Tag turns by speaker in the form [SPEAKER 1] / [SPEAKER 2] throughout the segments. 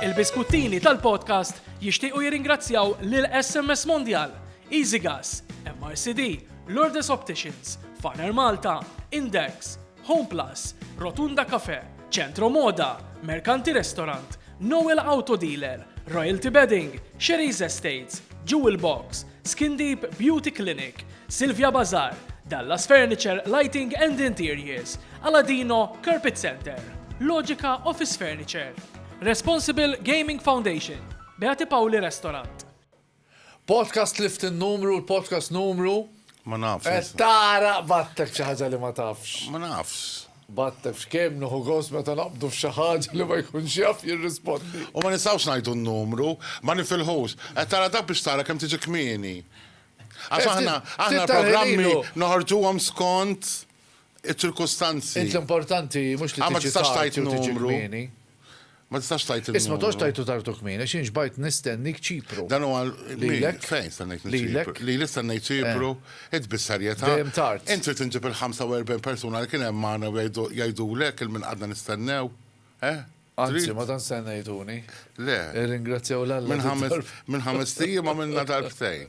[SPEAKER 1] Il-biskuttini tal-podcast jixtiequ jirringrazzjaw lil SMS Mondial, EasyGas, MRCD, Lourdes Opticians, Faner Malta, Index, Home Plus, Rotunda Cafe, Centro Moda, Mercanti Restaurant, Noel Auto Dealer, Royalty Bedding, Sherry's Estates, Jewel Box, Skin Deep Beauty Clinic, Silvia Bazaar, Dallas Furniture, Lighting and Interiors, Aladino Carpet Centre, Logica Office Furniture, Responsible Gaming Foundation, Beati Paoli Restaurant.
[SPEAKER 2] Podcast li ftin numru, l-podcast numru. Ma nafx.
[SPEAKER 3] Tara battek
[SPEAKER 2] xi ħaġa li ma tafx. Ma nafx.
[SPEAKER 3] But tafx kemm
[SPEAKER 2] nieħu gost meta naqbdu f'xi ħaġa li ma jkunx jaf jirrispondi. U ma nistgħux ngħidu
[SPEAKER 3] n-numru. Ma nifilħux. Qed tara dak biex tara kemm tiġi kmieni. Għax aħna, aħna l-programmi noħorġuhom skont iċ-ċirkustanzi. Int l-importanti
[SPEAKER 2] mhux li tiġi tard jew tiġi
[SPEAKER 3] kmieni.
[SPEAKER 2] Ma tistax
[SPEAKER 3] tajt il-numru. Isma tox tajtu tartu kmin,
[SPEAKER 2] għax jien ġbajt nistennik ċipru. Dan huwa lilek.
[SPEAKER 3] Fejn
[SPEAKER 2] stennik ċipru?
[SPEAKER 3] Li li stennik ċipru, eh. id bissarjeta. Dejjem tard. Inti
[SPEAKER 2] tinġib il-45
[SPEAKER 3] persuna li kien hemm magħna jgħidulek il-min qadna nistennew. Eh? Anzi,
[SPEAKER 2] ma dan stennejtuni. Le.
[SPEAKER 3] Ringrazzjaw
[SPEAKER 2] l-alla. Minn ħames
[SPEAKER 3] tijiem għamilna darbtejn.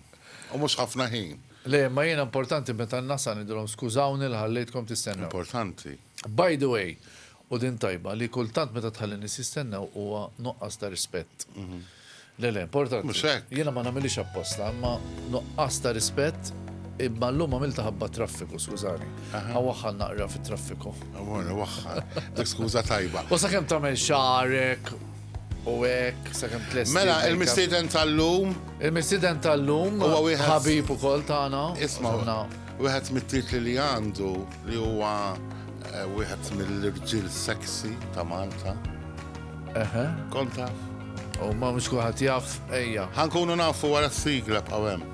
[SPEAKER 3] U mhux ħafna ħin. Le, ma jiena
[SPEAKER 2] importanti meta n-nasa nidilhom skużawni l-ħallejtkom tistennew. Importanti.
[SPEAKER 3] By the way,
[SPEAKER 2] u din tajba, li kultant meta tħalli nies jistennew huwa nuqqas ta' rispett. Le le, importanti. Mhux hekk. Jiena ma nagħmilhiex
[SPEAKER 3] apposta,
[SPEAKER 2] imma nuqqas ta' rispett, imma llum għamiltha ħabba t-traffiku, skużani. Awaħħal naqra fit-traffiku. Amore, waħħal.
[SPEAKER 3] Dik skuża tajba. U sakemm tagħmel
[SPEAKER 2] xagħarek u hekk, sakemm tlesti. Mela, il-mistieden
[SPEAKER 3] tal-lum. Il-mistieden
[SPEAKER 2] tal-lum. Huwa wieħed. Ħabib
[SPEAKER 3] ukoll tagħna.
[SPEAKER 2] Isma',
[SPEAKER 3] wieħed mit-titli li għandu. Li huwa wieħed mill-irġiel sexy ta' Malta. Eħe.
[SPEAKER 2] Kont taf?
[SPEAKER 3] U ma
[SPEAKER 2] mhux kulħadd jaf ejja. Ħankunu nafu wara
[SPEAKER 3] s-sigla b'qaw hemm.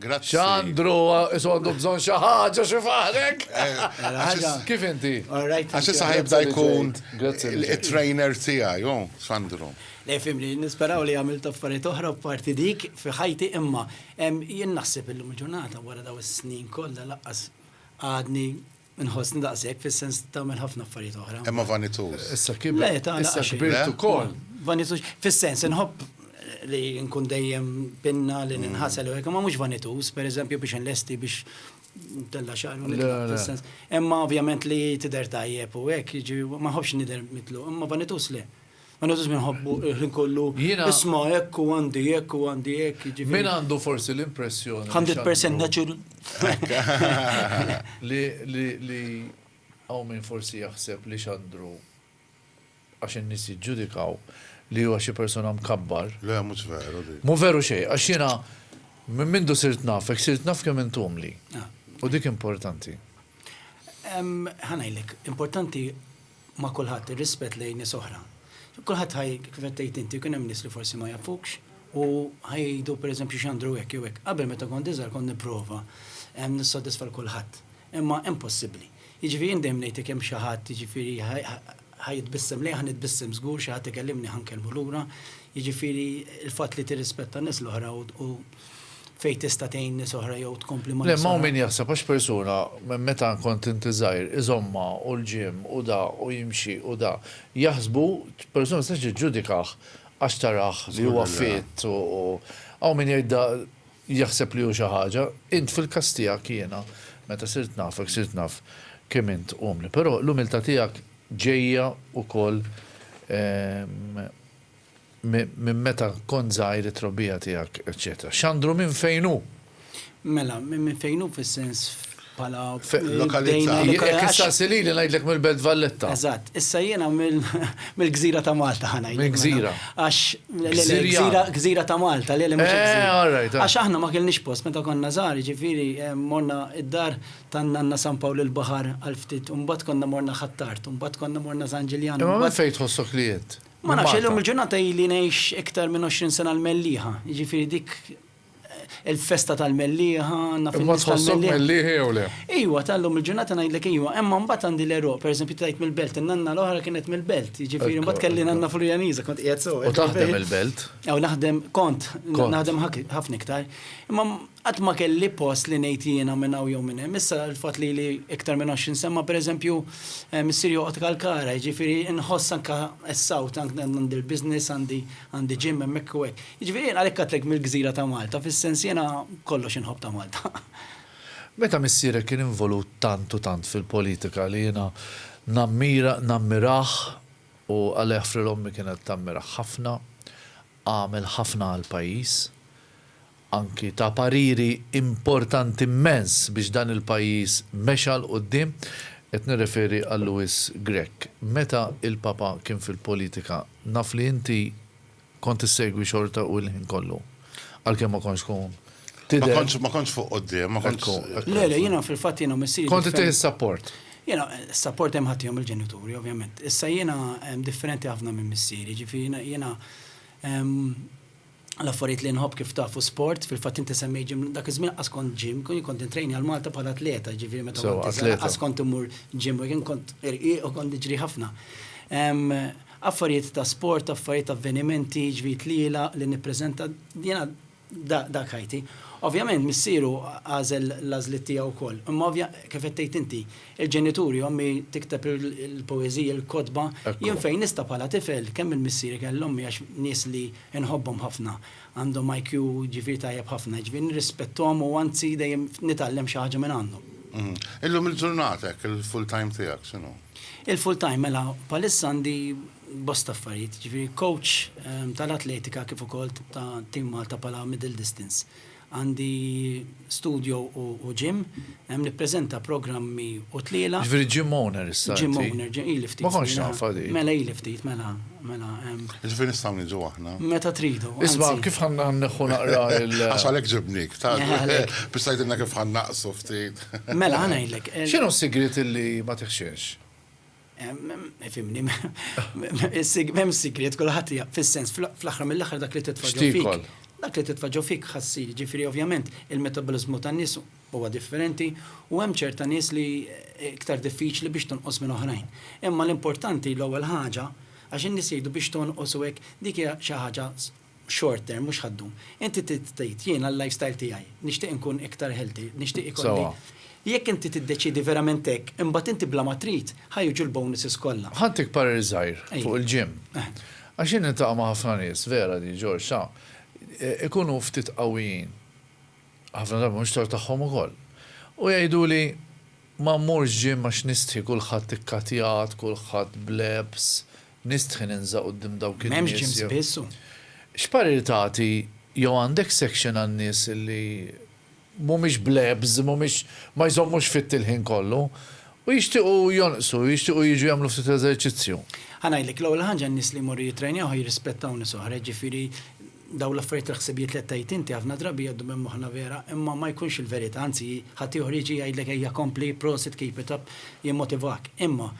[SPEAKER 3] Grazzi. Xandru,
[SPEAKER 2] isu għandu bżon xaħġa xi faħrek. Kif inti? Għax issa ħajbda
[SPEAKER 3] jkun il-trainer
[SPEAKER 2] tiegħi,
[SPEAKER 3] jo, Xandru. Le fimni,
[SPEAKER 4] nisperaw li għamil taffariet oħra parti dik fi ħajti imma jien naħseb illum il-ġurnata wara daw is-snin kollha laqqas għadni Inħossni daqshekk fis-sens li tagħmel ħafna affarijiet oħra. Imma vanituż. Issa
[SPEAKER 3] kibert. Le, ta'
[SPEAKER 2] issa
[SPEAKER 4] kbirt ukoll.
[SPEAKER 2] Vanituż, fis-sens
[SPEAKER 4] inħobb li nkun dejjem pinna li ninħasel u hekk, ma mhux vanituż, pereżempju biex inlesti biex tella xar fis-sens.
[SPEAKER 2] Imma
[SPEAKER 4] ovvjament li tidher tajjeb u hekk, jiġi ma ħobbx nidher mitlu, imma vanituż le. Aħna żiż minħobbu il-ħin kollu. Jiena. Isma'
[SPEAKER 2] hekk u għandi
[SPEAKER 4] hekk u għandi hekk. Jiġifieri. Min għandu forsi
[SPEAKER 2] l-impressjoni. 100% natural.
[SPEAKER 4] Li
[SPEAKER 2] li li hawn min forsi jaħseb li Xandru għax in-nies jiġġudikaw li huwa xi persuna mkabbar. Le mhux veru
[SPEAKER 3] dik. Mhu veru xejn għax jiena
[SPEAKER 2] minn mindu sirt nafek sirt naf kemm int umli. U dik
[SPEAKER 4] importanti.
[SPEAKER 2] Ħa
[SPEAKER 4] ngħidlek, importanti ma' kulħadd, ir-rispett lejn nies oħra. Kulħadd ħaj, kif qed tgħid inti, kien hemm nies li forsi ma jafukx u ħaj jgħidu pereżempju x'għandru hekk jew hekk. Qabel meta kont iżgħar kont nipprova nissodisfa 'l kulħadd. Imma impossibbli. Jiġifieri jien dejjem ngħid jekk hemm xi ħadd jiġifieri ħa jitbissem lejja ħa nitbissem żgur, xi ħadd ikellimni ħa nkellmu lura. Jiġifieri l-fatt li tirrispetta n-nies l-oħra u fejn tista' tgħin nies oħra jew tkompli ma' nies oħra. Le, ma' hawn min jaħseb
[SPEAKER 2] għax persuna meta kont inti żgħir iżommha u l-gym u da u jimxi u da. Jaħsbu, persuna ma tistax tiġġudikah għax tarah li huwa fit u hawn min jgħid da jaħseb li hu xi ħaġa. Int fil-każ tiegħek jiena meta sirt nafek sirt naf kemm int umli. Però l-umiltà tiegħek ġejja wkoll Minn meta kont żgħir it-trobbija tiegħek, eċċetera. Xandru minn fejn hu? Mela,
[SPEAKER 4] minn fejn hu fis-sens bħala. Lokalità.
[SPEAKER 3] Jekk issaqsi
[SPEAKER 2] lili ngħidlek mill-Belt Valletta. Eżatt, issa jiena
[SPEAKER 4] mill-gżira ta' Malta ħa ngħidlek. Mill-gżira. Għax gżira ta' Malta, le li mhux gżira. Għax
[SPEAKER 2] aħna ma kellniex post
[SPEAKER 4] meta konna żgħar, jiġifieri morna d-dar ta' nanna San Pawl il-Baħar għal ftit u mbagħad konna morna Ħ'Attard u mbagħad konna morna San Ġiljan. Imma minn fejn tħossok li
[SPEAKER 2] int? Ma nafx illum il-ġurnata
[SPEAKER 4] ili ngħix iktar minn 20 sena l-Mellieħa, jiġifieri dik il-festa tal-Mellieħa, naf
[SPEAKER 2] il-Mellieħa jew le. Iwa, tal-lum il-ġurnata
[SPEAKER 4] ngħidlek iwa, imma mbagħad għandi l-eruq, pereżempju tgħid mill-belt, in-nanna l-oħra kienet mill-belt, jiġifieri mbagħad kelli nanna Furjaniża, kont qiegħed sew. U taħdem il-belt?
[SPEAKER 2] Aw naħdem
[SPEAKER 4] kont, naħdem ħafna iktar. Imma Qatt ma kelli post li ngħid li jiena minn hawn jew minn hemm. Issa l-fatt li ili iktar minn għoxrin sena ma pereżempju missieri joqgħod Kalkara, jiġifieri nħoss anke s-sawt, għandi l-business, għandi għandi gym hemmhekk u hekk. Jiġifieri jien għalhekk għedtlek mill-gżira ta' Malta, fis-sens jiena kollox inħobb ta' Malta. Meta
[SPEAKER 2] missierek kien involut tant u tant fil-politika li jiena nammira nammirah u għalih fril ommi kienet tammirah ħafna, għamel ħafna għall-pajjiż, anki ta pariri importanti immens biex dan il-pajjiż mexa 'l quddiem, qed nirreferi għal Louis Grech. Meta l-Papa kien fil-politika, naf li inti kont issegwi xorta u l-ħin kollu, għalkemm ma kontx tkun tidher. Ma kontx
[SPEAKER 3] fuq quddiem, ma kontx. Ekku, ekku. Le, le, jiena fil-fatt
[SPEAKER 4] jiena u missieri. Kont ittieħ is-sapport.
[SPEAKER 2] Jiena, is-sapport
[SPEAKER 4] hemm ħaddtihom il-ġenituri, ovvjament. Issa jiena differenti ħafna minn missieri, jiġifieri jiena l-affarijiet li nħobb kif tafu sport, fil-fatt inti semmej ġim, dak iż-żmien qas kont ġim, kien kont intrejni għal Malta bħala atleta, ġifieri meta So, kont iżgħar, atleta. qas kont immur ġim, kien kont irqiq u kont niġri ħafna. Em, Affarijiet ta' sport, affarijiet avvenimenti, ġviri tlielaq li nippreżenta, jiena da- dak ħajti. Ovvjament missieru għażel l-għażliet tiegħu wkoll, imma ovvja- kif qed tgħid inti, il-ġenituri, ommi tikteb il- il-poeżiji, il-kotba, Ekku. jien fejn nista' bħala tifel, kemm minn missieri kellu ommi għax nies li Inħobbhom ħafna. Għandhom IQ ġifieri tajjeb ħafna, jiġifieri nirrispetthom u anzi dejjem nitgħallem xi ħaġa minn għandhom. Illum il-ġurnata
[SPEAKER 3] hekk il-full time tiegħek x'inhu? Il-full time mela
[SPEAKER 4] bħalissa għandi bosta affarijiet, jiġifieri coach tal-atletika kif ukoll ta' Team Malta bħala middle distance. Għandi studio u gym. Hemm nippreżenta programmi u tlielaq. Jiġifieri gym owner issa
[SPEAKER 2] inti? Gym owner, ili ftit
[SPEAKER 4] snin. Ma kontx nafha din.
[SPEAKER 2] Mela ili ftit, mela,
[SPEAKER 4] mela hemm. Jiġifieri
[SPEAKER 3] nistgħu niġu aħna? Meta tridu, anzi. Isma'
[SPEAKER 4] kif ħa
[SPEAKER 2] nneħħu naqra l. Għax għalhekk ġibnik,
[SPEAKER 3] ta' biex tgħidilna kif ħa nnaqqsu ftit. Mela ħa ngħidlek.
[SPEAKER 4] X'inhu s-sigriet illi
[SPEAKER 2] ma tiħxinx?
[SPEAKER 4] Fimni, mem sigriet kullħat hija fis-sens fl-aħħar mill-aħħar dak li titfaġġu fik. Dak li titfaġġu fik ħassir, ġifieri ovvjament il-metabolizmu tan-nies huwa differenti u hemm ċerta nies li iktar diffiċli biex tonqos minn oħrajn. Imma l-importanti l-ewwel ħaġa għax in-nies jgħidu biex tonqos u hekk dik hija xi ħaġa short term, mhux ħad-dum. Inti trid tgħid jiena l-lifestyle tiegħi, nixtieq inkun iktar healthy, nixtieq ikolli. Sewwa. Jekk inti tiddeċiedi verament hekk, imbagħad inti bla ma trid, ħa jiġu l-bonuses kollha. Ħadtik parir żgħir
[SPEAKER 2] fuq il-gym. Għax jien niltaqa' ma' ħafna nies, vera di, George, ta', ikunu ftit qawwijin, ħafna drabi mhux tort tagħhom ukoll, u jgħiduli, Ma mmurx gym għax nistħi kulħadd ikkatjat, kulħadd b'lebs, Nistħi ninża' quddiem dawk in-nies jew. M'hemmx ġim spiss u.
[SPEAKER 4] X'parir
[SPEAKER 2] tagħti jew għandek section għan-nies li mhumiex blebs, mhumiex ma jżommux fit il-ħin kollu u jixtiequ jonqsu, jixtiequ jiġu jagħmlu ftit eżerċizzju? Ħa ngħidlek, l-ewwel
[SPEAKER 4] ħaġa n-nies li jmorru jittrejnaw ħa jirrispettaw nies oħra, jiġifieri dawn l-affarijiet il-ħsibijiet li qed tgħid inti ħafna drabi jgħaddu minn moħħna vera, imma ma jkunx il-verità, anzi ħaddieħor jiġi jgħidlek ejja kompli, prosit, keep it up, jimmotivak. Imma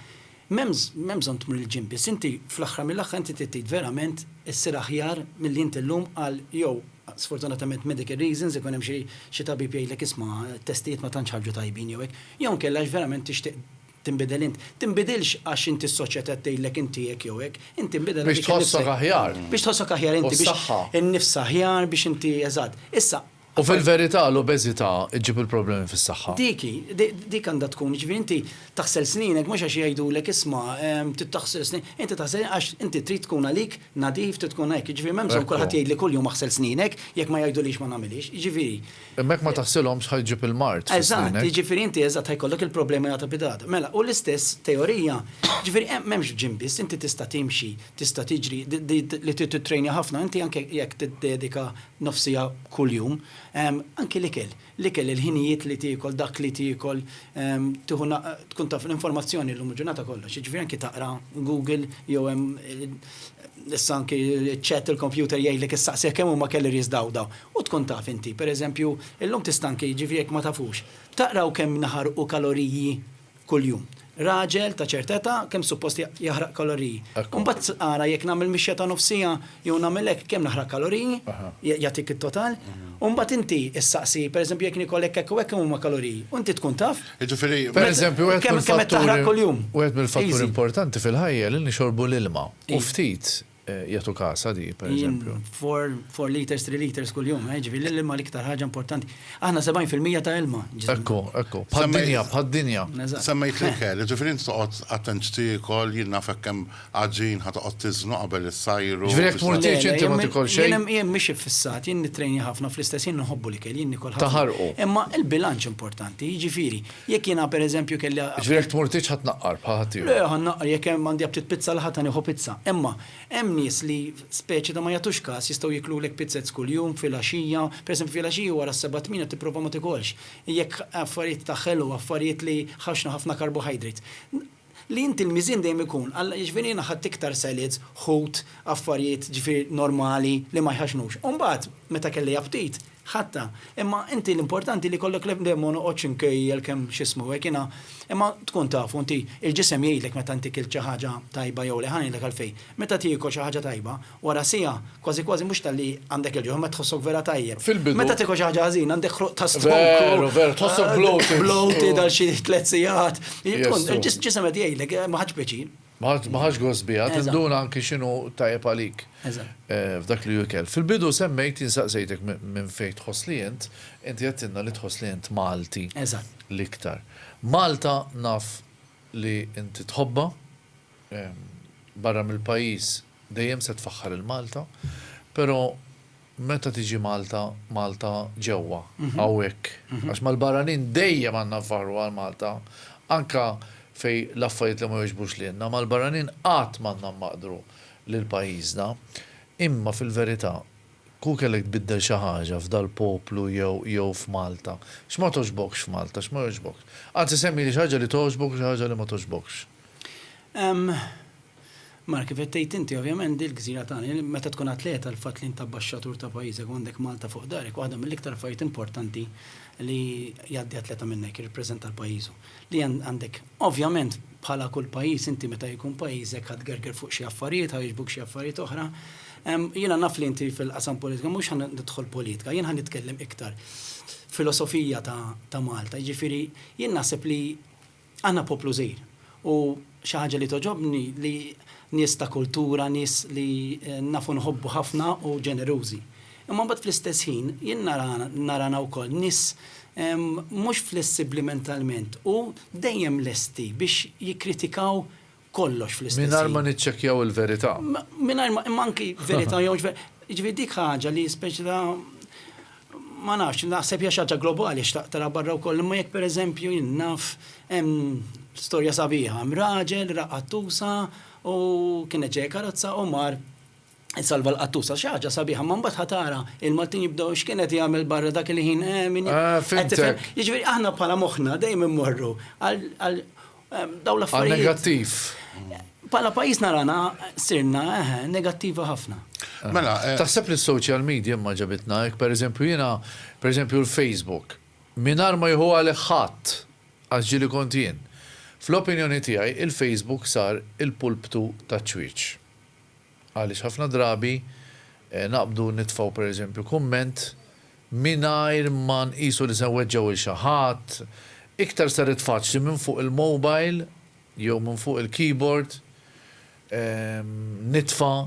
[SPEAKER 4] M'hemm bżonn tmur 'il ġimb biss, inti fl-aħħar mill-aħħar inti trid verament issir aħjar milli inti llum għal jew sfortunatament medical reasons ikun hemm xi tabib jgħidlek isma' t-testijiet ma tantx ħarġu tajbin jew hekk, jew inkella għax verament tixtieq tinbidel int. Tinbidilx għax inti s-soċjetà qed tgħidlek inti hekk jew hekk, inti tinbidel għaliex innifsek. Biex tħossok aħjar. Biex tħossok
[SPEAKER 2] aħjar
[SPEAKER 4] inti. U s-saħħa. Biex innifs aħjar, biex inti, eżatt. Issa, U
[SPEAKER 2] fil-verità l-obeżità ġġib il-problemi fis-saħħa. Dik hi, dik
[SPEAKER 4] għandha tkun, jiġifieri inti taħsel sninek mhux għax jgħidulek isma' trid taħsel snin, inti taħsel għax inti trid tkun għalik nadif, trid tkun hekk, jiġifieri m'hemm bżonn kulħadd jgħidli kuljum aħsel sninek, jekk ma jgħidulix ma nagħmilhiex, jiġifieri. Imma jekk ma taħsilhomx
[SPEAKER 2] ħa jġib il-mard fi sninnek. Eżatt, jiġifieri inti
[SPEAKER 4] eżatt ħa jkollok il-problemi għada bid-għada. Mela, u l-istess teorija, jiġifieri hemm m'hemmx f'gym biss, inti tista' timxi, tista' tiġri, li trid tittrejnja ħafna, inti anke jekk tiddedika nofs siegħa kuljum. Anki l-ikel, l-ikel, il-ħinijiet li tiekol, dak li tiekol, tieħu na, tkun taf l-informazzjoni llum il-ġurnata kollox, jiġifieri anki taqra Google jew hemm issa anki ċ-chat il-kompjuter jgħidlek issaqsih kemm huma calories daw daw u tkun taf inti. Pereżempju, illum tista' anki, jiġifieri jekk ma tafux, taqraw kemm naħarqu kaloriji kuljum. Raġel ta' ċerta età kemm suppost jaħraq kaloriji. U mbagħad ara jekk nagħmel mixja ta' nofs siegħa jew nagħmel hekk kemm naħraq kaloriji, jagħtik it-total. U mbagħad inti issaqsi, pereżempju jekk nikol hekk hekk u hekk kemm huma kaloriji. U inti tkun taf. Jiġifieri, pereżempju,
[SPEAKER 2] kemm qed taħraq
[SPEAKER 4] kuljum. Wieħed mill-fatturi
[SPEAKER 2] importanti fil-ħajja li nixorbu l-ilma. U ftit Jagħtu każ għal di, pereżempju. Four, four
[SPEAKER 4] liters, three liters kuljum, eh, ġifieri l-ilma l-iktar ħaġa importanti. Aħna 70% ta' ilma. Ekku, ekku.
[SPEAKER 2] Bħad-dinja, bħad-dinja. Semmejt
[SPEAKER 5] l-ikel, ġifieri inti toqgħod attent x'tiekol, jien naf hekk hemm għaġin ħa toqgħod tiżnu qabel issajru. Ġifieri jekk tmur tgħix inti
[SPEAKER 2] ma tiekol xejn. Jien jien mhix iffissat,
[SPEAKER 4] jien nittrejni ħafna fl-istess jien inħobbu l-ikel, jien niekol ħafna. Taħarqu. Imma l-bilanċ importanti, jiġifieri Jekk jiena pereżempju kelli a. Jiġifieri jekk tmur titħa
[SPEAKER 2] tnaqqar bħal ħaddieħor. Le, ħa nnaqqar, jekk hemm
[SPEAKER 4] għandi aptit pizza l-Ħadd ħa nieħu pizza. Imma hemm nies li speċi ta' ma jagħtux każ jistgħu jiklulek pizzez kuljum, filgħaxija, pereżempju filgħaxija wara s-sebgħa tmiena tipprova ma tikolx. Jekk affarijiet ta' ħelu, affarijiet li ħafna ħafna carbohydrates. Li inti l-miżien dejjem ikun, Alla, jiġifieri jiena ħadt iktar salads, ħut, affarijiet, jiġifieri normali, li ma jħaxnux. U mbagħad, meta kelli aptit, ħadtha. Imma inti l-importanti li jkollok l-, dejjem ma noqgħodx inkejjel kemm x'ismu hekk jiena, imma tkun taf u inti, il-ġisem jgħidlek meta inti kilt xi ħaġa tajba jew le, ħa ngħidlek għalfejn. Meta tiekol xi ħaġa tajba, Wara siegħa, kważi kważi mhux talli għandek il-ġuħ imma tħossok vera tajjeb. Fil-bidu. Meta tiekol xi ħaġa ħażina għandek ħruq ta' stonku. Veru, veru, tħossok bloated.
[SPEAKER 2] Bloated għal xi
[SPEAKER 4] tliet sigħat. Ġisem qed jgħidlek ma ħadx pjaċir. Ma ħadx gost
[SPEAKER 2] biha, tinduna anki x'inhu tajjeb għalik f'dak li hu ikel. Fil-bidu semmejt, jien saqsejtek minn fejn tħoss li int, inti għedtilna li tħoss li int Malti l-iktar. Malta naf li inti tħobbha, barra mill-pajjiż, Dejjem se tfaħħar lil Malta, pero' meta tiġi Malta, Malta ġewwa, hawnhekk, għax mal-barranin dejjem għandna nfaħħru għal Malta, anke fejn l-affarijiet li ma jogħġbux lilna, mal-barranin qatt m'għandna mmaqdru lil pajjiżna. Imma fil-verità, kieku kellek tbiddel xi ħaġa f'dal-poplu jew jew f'Malta, x'ma togħġbokx f'Malta, x'ma jogħġbokx? Anzi semmili xi ħaġa li togħġbok u xi ħaġa li ma togħġbokx.
[SPEAKER 4] Mela kif qed tgħid inti, ovvjament din il-gżira tagħna, meta tkun atleta l-fatt li int abbaxxatur ta' pajjiżek u għandek Malta fuq darek waħda mill-iktar affarijiet importanti li jgħaddi atleta minnek, jirrappreżenta l-pajjiżu. Li għandek, ovvjament bħala kull pajjiż inti meta jkun pajjiżek ħa tgerger fuq xi affarijiet, ħa jogħġbuk xi affarijiet oħra. Jiena naf li inti fil-qasam politika, mhux ħa nidħol politika, jien ħa nitkellem iktar filosofija ta' Malta. Jiġifieri jien naħseb li, Aħna poplu żgħir u xi ħaġa li togħġobni li nies ta' kultura, nies li nafu nħobbu ħafna u ġenerużi. Imma mbagħad fl-istess ħin jien nara narana wkoll nies mhux flessibbli mentalment u dejjem lesti biex jikkritikaw kollox fl-istess ħin. Mingħajr ma niċċekkjaw
[SPEAKER 2] il-verità. Mingħajr ma, imma
[SPEAKER 4] anki verità jew mhux verità. Jiġifieri dik ħaġa li speċi ta' ma nafx, naħseb hija xi ħaġa globali xtaqt tara barra wkoll, imma jekk pereżempju jien naf hemm storja sabiħa, hemm raġel raqqad tusa u kienet ġejja karozza u mar Salva l-qattus għax xi ħaġa sabiħa, ma mbagħad ħatara il-Maltin jibdew x'kien qed jagħmel barra dak il-ħin eh, min Ah, qed fimtek. tifhem. Jiġifieri aħna bħala moħħna dejjem immorru għal għal ehm, dawn Għal l-affarijiet. negattiv.
[SPEAKER 2] Bħala
[SPEAKER 4] pajjiż narana sirna eh, negattivi ħafna. Mela, eh, Taħseb
[SPEAKER 5] li s-social
[SPEAKER 2] media imma ġabitna hekk, pereżempju jiena, pereżempju l-Facebook, mingħajr ma jieħu għalih ħadd għax ġieli kont jien. Fl-opinjoni tiegħi il-Facebook sar il-pulptu taċ-ċwieċ. Għaliex ħafna drabi naqbdu nitfgħu pereżempju kumment mingħajr ma nqisu li se nweġġgħu lil xi ħadd, iktar saret faċli minn fuq il-mobile jew minn fuq il-keyboard nitfa'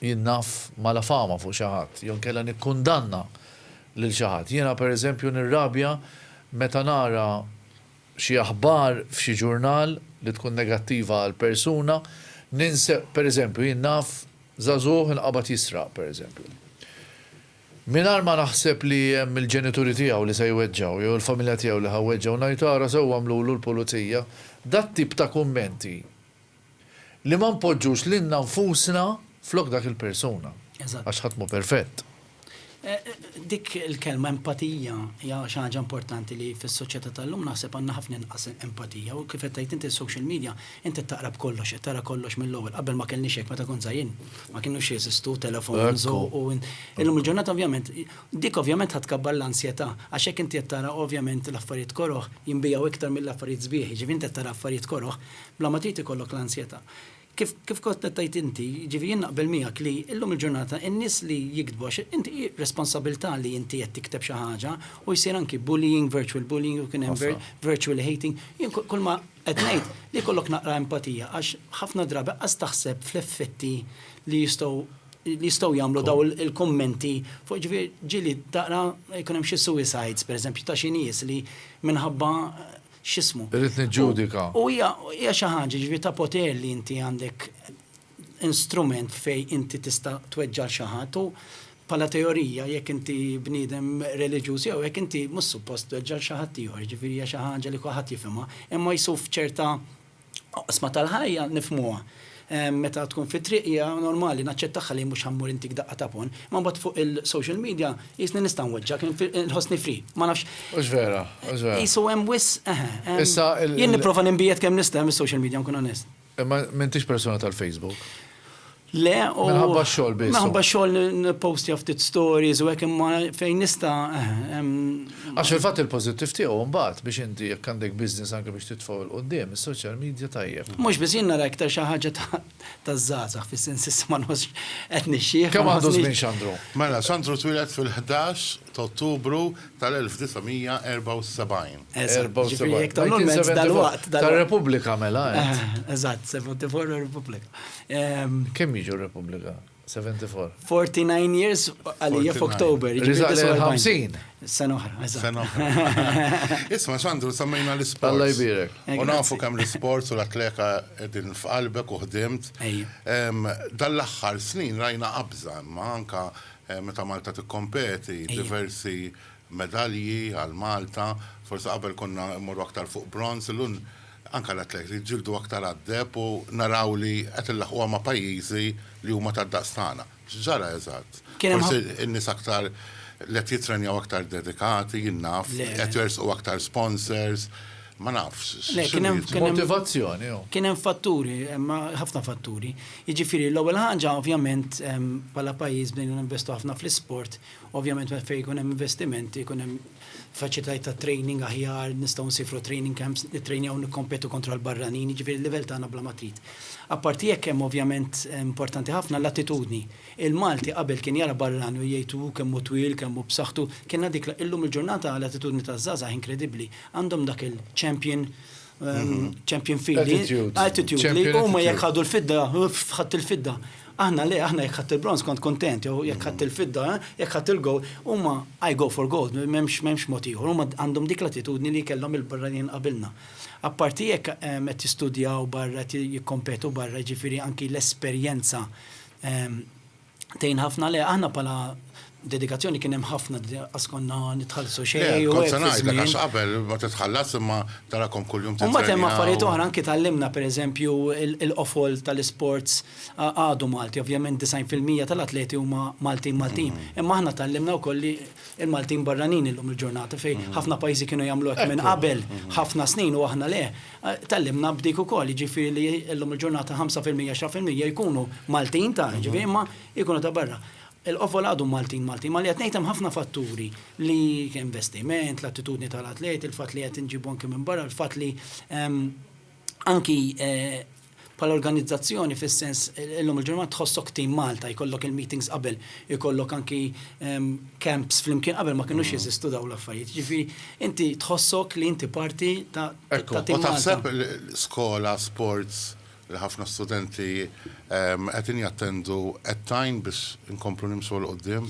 [SPEAKER 2] jien naf mala fama fuq xi ħadd jew inkella nikkundanna lil xi ħadd. Jiena pereżempju nirrabja meta nara xi aħbar f'xi ġurnal li tkun negattiva għal persuna, ninse, per eżempju, jien naf żagħżugħ inqabad jisraq, per eżempju. Mingħajr ma naħseb li hemm il-ġenituri tiegħu li se jweġġgħu jew il-familja tiegħu li ħa weġġgħu ngħid ara sewwa għamlulu l-pulizija, dat-tip ta' kummenti li ma npoġġux lilna nfusna flok dak il-persuna. Eżatt. Għax ħadd mhu perfett.
[SPEAKER 4] Dik il-kelma empatija hija xi ħaġa importanti li fis-soċjetà tal-lum naħseb għandna ħafna inqas empatija u kif qed tgħid int is-social media int qed taqra b'kollox, qed tara kollox mill-ewwel. Qabel ma kellniex hekk, meta kont żgħir jien ma kinux jeżistu telefons u u illum il-ġurnata ovvjament dik ovvjament ħa tkabbar l-ansjetà għax hekk inti qed tara ovvjament l-affarijiet koroh jinbiegħu iktar mill-affarijiet sbieħ, jiġifieri int qed tara affarijiet koroh, Bla ma trid ikollok l-ansjetà. Kif kif kont qed tgħid inti, jiġifieri jien naqbel miegħek li llum il-ġurnata in-nies li jiktbu għax inti hi responsabilità li inti qed tikteb xi ħaġa u jsir anki bullying, virtual bullying u kien hemm vir virtual hating. Jien ku kulma qed ngħid li jkollok naqra empatija għax ħafna drabi qas taħseb fl-effetti li jistgħu li jistgħu jagħmlu dawn il il-kummenti fuq jiġifieri ġieli taqra jkun hemm xi suicides pereżempju ta' xi nies li minħabba x'ismu. Irrid niġġudika.
[SPEAKER 2] U hija hija
[SPEAKER 4] xi ħaġa ġifieri ta' poter li inti għandek instrument fejn inti tista' tweġġa' xi ħadd u bħala teorija jekk inti bniedem reliġjuż jew hekk inti mhux suppost tweġġa' xi ħadd ieħor, ġifieri hija xi ħaġa li kulħadd jifhimha, imma jsuf ċerta Oqsma tal-ħajja nifhmuha. Meta tkun fit-triq hija normali naċċettagħha li mhux ħammur intik daqqa ta' ponn. Imma mbagħad fuq il-social media qisni nista' nweġġgħek, inħossni free. Ma nafx. Hux vera,
[SPEAKER 2] hux vera. Qisu hemm
[SPEAKER 4] wisq, eħe. Issa il. Jien nipprova ninbiegħed kemm nista' mis-social media nkun onest. Imma m'intix persuna
[SPEAKER 2] tal-Facebook. Le
[SPEAKER 4] u. Minħabba x-xogħol biss. Minħabba
[SPEAKER 2] x-xogħol nippostja
[SPEAKER 4] ftit stories u hekk imma fejn nista' hemm.
[SPEAKER 2] Għax fil-fatt il-pożittiv tiegħu mbagħad biex inti jekk għandek business anke biex titfgħu 'l quddiem, is-social media tajjeb. Mhux biss, jien nara iktar
[SPEAKER 4] xi ħaġa taż-żgħażagħ fis-sens issa ma nħossx qed nixjieħ. Kemm għandu żmien Xandru?
[SPEAKER 2] Mela, Xandru twieled
[SPEAKER 5] fil-ħdax t'Ottubru tal-1974. Eżatt, ġifieri jekk tagħmlu l-mezz
[SPEAKER 4] dalwaqt. Tar-Repubblika mela
[SPEAKER 2] għedt. Eżatt,
[SPEAKER 4] 74 u r-Repubblika. Kemm
[SPEAKER 2] jiġu r-Repubblika? 74? 49 years
[SPEAKER 4] għalija f'October. Riżaq lejn
[SPEAKER 2] il-50. Sena oħra, eżatt.
[SPEAKER 4] Sena oħra.
[SPEAKER 5] Isma' Sandru, semmejna l-isports. Alla jbierek. U
[SPEAKER 2] nafu kemm
[SPEAKER 5] l-isports u l-atleka qegħdin f'qalbek u ħdimt. Dan l-aħħar snin rajna qabża imma anke Meta Malta tikkompeti, diversi medalji għal Malta, forsi qabel konna mmorru aktar fuq bronz, illum anke l-atleti jiġġieldu aktar għad-deheb u naraw li qed inlaħquha ma' pajjiżi li huma tad-daqs tagħna. X'ġara eżatt? Forsi n-nies aktar li qed jittrenjaw aktar dedikati, jien naf, qed jersqu aktar sponsors. Ma nafx. Motivazzjoni.
[SPEAKER 2] Oh. Kien hemm fatturi,
[SPEAKER 4] ma ħafna fatturi. Jiġifieri l-ewwel ħaġa ovvjament bħala pajjiż bdejna ninvestu ħafna fl-isport, ovvjament meta fejn jkun hemm investimenti, jkun hemm faċilitajiet ta' training aħjar, nistgħu nsifru training camps, nittrejnjaw nikkompetu kontra l-barranin, jiġifieri l-livell tagħna bla matrit. Apparti hekk hemm ovvjament importanti ħafna l-attitudni Il-Malti qabel kien jara barrani u jgħid hu kemm hu twil, kemm hu b'saħħtu, kien għad ikla, illum il-ġurnata l-attitudni taż-żgħażagħ inkredibbli, għandhom dak il-champion champion feel li attitude li huma jekk ħadu l-fidda, ħadt il-fidda. Aħna le, aħna jekk ħadt il-bronż kont kuntent, jew jekk ħadt il-fidda, jekk ħadt il-gold, huma I go for gold, m'hemmx mod ieħor, huma għandhom dik l-attitudni li kellhom il-barranin qabilna. Apparti jekk qed jistudjaw barra, qed jikkompetu barra, jiġifieri anki l-esperjenza Tgħin ħafna le, aħna bħala dedikazzjoni kien hemm ħafna qas konna nitħallsu xejn. Le, kont se ngħidlek għax qabel
[SPEAKER 5] ma titħallas imma tarakom kuljum titħallas. Imbagħad hemm affarijiet oħra
[SPEAKER 4] anki tgħallimna pereżempju l-qofol tal-isports għadu Malti, ovvjament 90 fil-mija tal-atleti huma Maltin Maltin. Imma aħna tgħallimna wkoll li l-Maltin barranin illum il-ġurnata fejn ħafna pajjiżi kienu jagħmlu hekk minn qabel ħafna snin u aħna le. Tgħallimna b'dik ukoll, jiġifieri li llum il-ġurnata 5 fil-mija, 10 fil-mija jkunu Maltin ta' jiġifieri imma jkunu ta' barra. Il-qofol għadu Maltin Maltin, imma li qed ngħid hemm ħafna fatturi li investiment, l-attitudni tal-atleti, il-fatt li qed inġibu anki minn barra, il-fatt li anki Bħala organizzazzjoni fis-sens illum il-ġurnata tħossok Team Malta, jkollok il-meetings qabel, ikollok anki camps flimkien qabel ma kinux jeżistu dawn l-affarijiet. Jiġifieri inti tħossok li inti parti ta' Team Malta. U taħseb
[SPEAKER 5] skola, sports li ħafna studenti qegħdin jattendu qed tgħin biex inkomplu nimxu 'l quddiem?